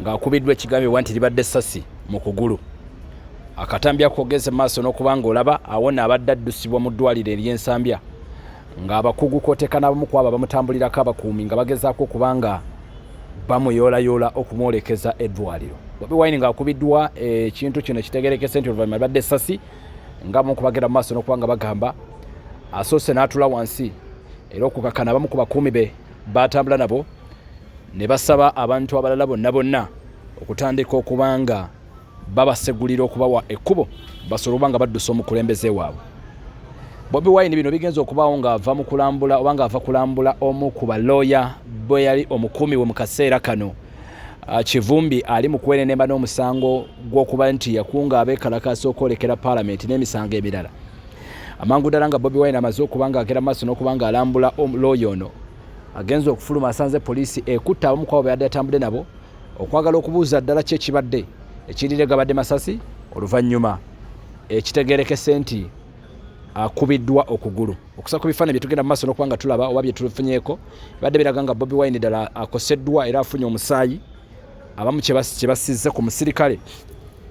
ng'akubiddwa ekigambibwa nti libadde essasi mu kugulu akatambi akogeze maaso n'okuba ng'olaba awona abadde addusibwa mu ddwaliro ery'ensambya ng'abakugu koteka n'abamu ku abo abamutambulirako abakuumi nga bagezaako okuba nga bamuyoolayoola okumwolekeza eddwaliro bobi wine ng'akubiddwa ekintu kino kitegerekese nti oluvannyuma libadde essasi nga mu kubagenda mu maaso n'okuba nga bagamba asoose n'atula wansi era okukakana abamu ku bakuumi be baatambula nabo ne basaba abantu abalala bonna bonna okutandika okuba nga babasegulira okubawa ekkubo basobola okuba nga baddusa omukulembeze waabwe bobi wine bino bigenza okubaawo ng'ava mu kulambula oba ng'ava kulambula omu ku balooya bwe yali omukuumi we mu kaseera kano ah, kivumbi ali mu kwenenemba n'omusango gw'okuba nti yakunga abeekalakaasa okwolekera paalamenti n'emisango emirala amangu ddala nga bobi wine amaze okuba ng'agera maaso n'okuba ng'alambula looya ono agenze okufuluma asanze poliisi ekutte abamu kwabo beyadde atambudde nabo okwagala okubuuza ddala ki ekibadde ekirire gabadde masasi oluvannyuma ekitegerekese nti akubiddwa okugulu okusa ku bifaananyi byetugenda mu maaso nokuba nga tulaba oba byetufunyeeko bibadde biraga nga bobi wine ddala akoseddwa era afunye omusaayi abamu kyebasizze ku musirikale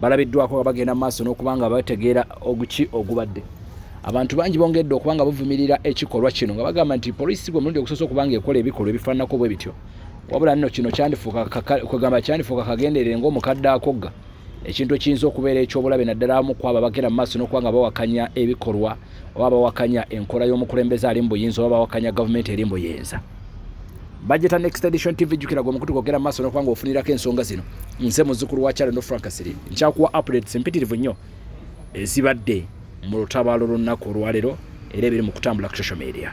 balabiddwako nga bagenda mu maaso n'okuba nga bategeera oguki ogubadde abantu bangi bongedde okuba nga buvumirira ekikolwa kino nga bagamba nti poliisi gwe mulundi ogusoose okuba nga ekola ebikolwa ebifaananako bwe bityo wabula nno kino kyandifuukakwegamba kyandifuuka kagenderere ngaomukadde akogga ekintu ekiyinza okubeera ekyobulabe naddala amu kwabo abagenda mu maaso n'okuba nga bawakanya ebikolwa oba bawakanya enkola y'omukulembeze ali mu buyinza oba bawakanya gavumenti eri mu buyinza bajeta next edition tv jukira gwe mukutu kwogera maaso nokuba ngaofunirako ensonga zino nze muzukulu wa kyalo no frank siri nkyakuwa updates mpitirivu nnyo ezibadde mu lutabaalo lunnaku olwaleero era ebiri mu kutambula ku social media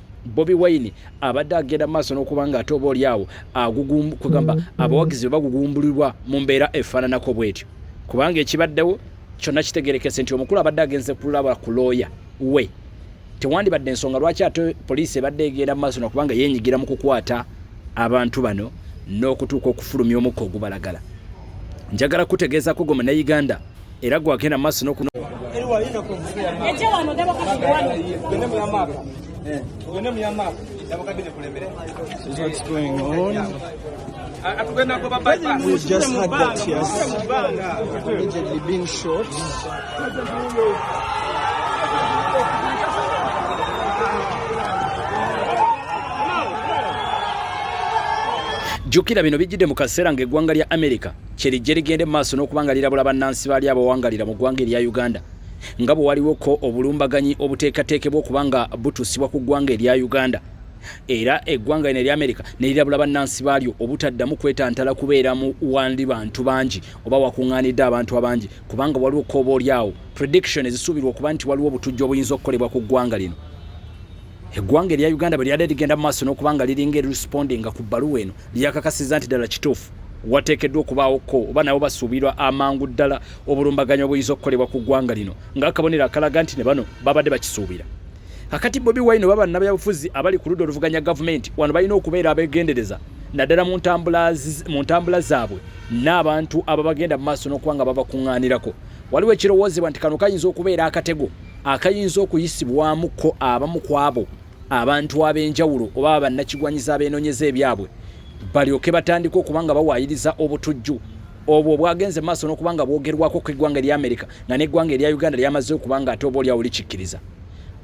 bobi wine abadde agenda maaso n'okuba nga ate oba oli awo kugamba abawagizi be bagugumbulirwa mu mbeera efaananako bwetyo kubanga ekibaddewo kyonna kitegerekese nti omukulu abadde agenze kulaba ku looya we tewandibadde ensonga lwaki ate poliisi ebadde egenda mu maaso nakubanga yenyigira mu kukwata abantu bano n'okutuuka okufulumya omukka ogubalagala njagala kutegeezako goma ne uganda era gwagenda maaso noku We just had that tears allegedly being shot. jjukira bino bijjidde mu kaseera ng'eggwanga lya amerika kyerijje ligende maaso n'okuba nga lirabula bannansi baali abawangalira mu ggwanga erya uganda nga bwe waliwoko obulumbaganyi obuteekateekebwa okuba nga butuusibwa ku ggwanga erya uganda era eggwanga lino erya amerika ne lirabula bannansi baalyo obutaddamu kwetantala kubeera mu wandi bantu bangi oba wakuŋŋaanidde abantu abangi kubanga waliwo kooba oli awo prediction ezisuubirwa okuba nti waliwo obutujju obuyinza okukolebwa ku ggwanga lino eggwanga erya uganda bwe lyadde ligenda mu maaso n'okuba nga liringa erispondinga ku bbaluwa eno lyakakasiza nti ddala kituufu wateekeddwa okubaawo ko oba nabo basuubirwa amangu ddala obulumbaganyi obuyinza okukolebwa ku ggwanga lino ng'akabonero akalaga nti ne bano babadde bakisuubira akati bobi wine oba bannabyabufuzi abali ku ludda oluvuganya gavumenti wano balina okubeera abeegendereza naddala mu ntambula zaabwe n'abantu ababagenda mu maaso n'okuba nga babakuŋŋaanirako waliwo ekirowoozebwa nti kano kayinza okubeera akatego akayinza okuyisibwamu ko abamu kwabo abantu ab'enjawulo oba abannakigwanyiza abeenoonyeza ebyabwe balyoke batandika okuba nga bawaayiriza obutujju obwo obwagenze maaso n'okuba nga bwogerwako ku eggwanga erya amerika nga n'eggwanga erya uganda lyamaze okuba nga ate oba olyawo likikkiriza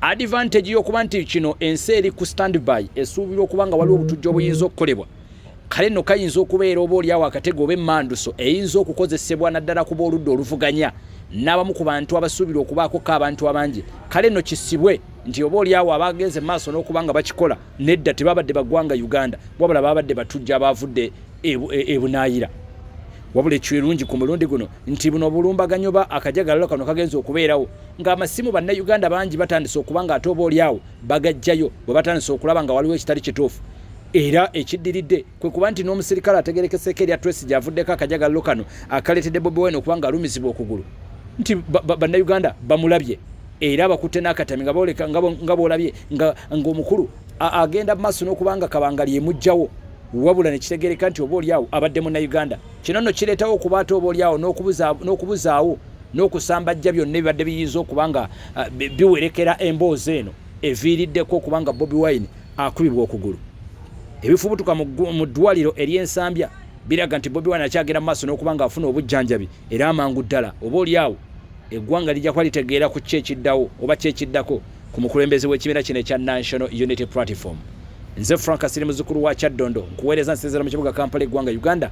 advantage y'okuba nti kino ensi eri ku standby esuubirwa okuba nga waliwo obutujju obuyinza okukolebwa kale nno kayinza okubeera oba olyawo akatego oba emmanduso eyinza okukozesebwa naddala kuba oludda oluvuganya n'abamu ku bantu abasuubira okubaakokka abantu abangi kale nno kisibwe nti oba olyawo abagenze mu maaso n'okuba nga bakikola nedda tebabadde bagwanga uganda wabula babadde batujja abaavudde ebunaayira e, e wabula ekirungi ku mulundi guno nti buno obulumbaganyi oba akajagalalo kano kagenza okubeerawo ng'amasimu bannayuganda bangi batandise okuba ng'ate oba olyawo bagajjayo bwe batandise okulaba nga waliwo ekitali kituufu era ekiddiridde kwe kuba nti n'omusirikale ategerekeseeko erya tracy gyavuddeko akajagallo kano akaleetedde bobi wine okuba nga alumizibwa okugulu nti bannayuganda bamulabye era bakutte n'akatami nga booleka nga boolabye ng'omukulu agenda mu maaso n'okuba nga kabanga lyemugjawo wabula nekitegereka nti oba olyawo abadde munnauganda kino nno kireetawo okuba ate oba olyawo n'okubuzaawo n'okusambajja byonna ebibadde biyinza okuba nga uh, biwerekera emboozi eno eviiriddeko okuba nga bobi wine akubibwa okugulu ebifubutuka mu ddwaliro ery'ensambya biraga nti bobi wine akyagenda mu maaso n'okuba nga afuna obujjanjabi era amangu ddala oba oli awo eggwanga lijja kuba litegeera ku ki ekiddawo oba ki ekiddako ku mukulembeze w'ekibiina kino ekya national unity platform nze frank asiri muzukulu wa kyaddondo nkuweereza nsinzira mu kibuga kampala eggwanga uganda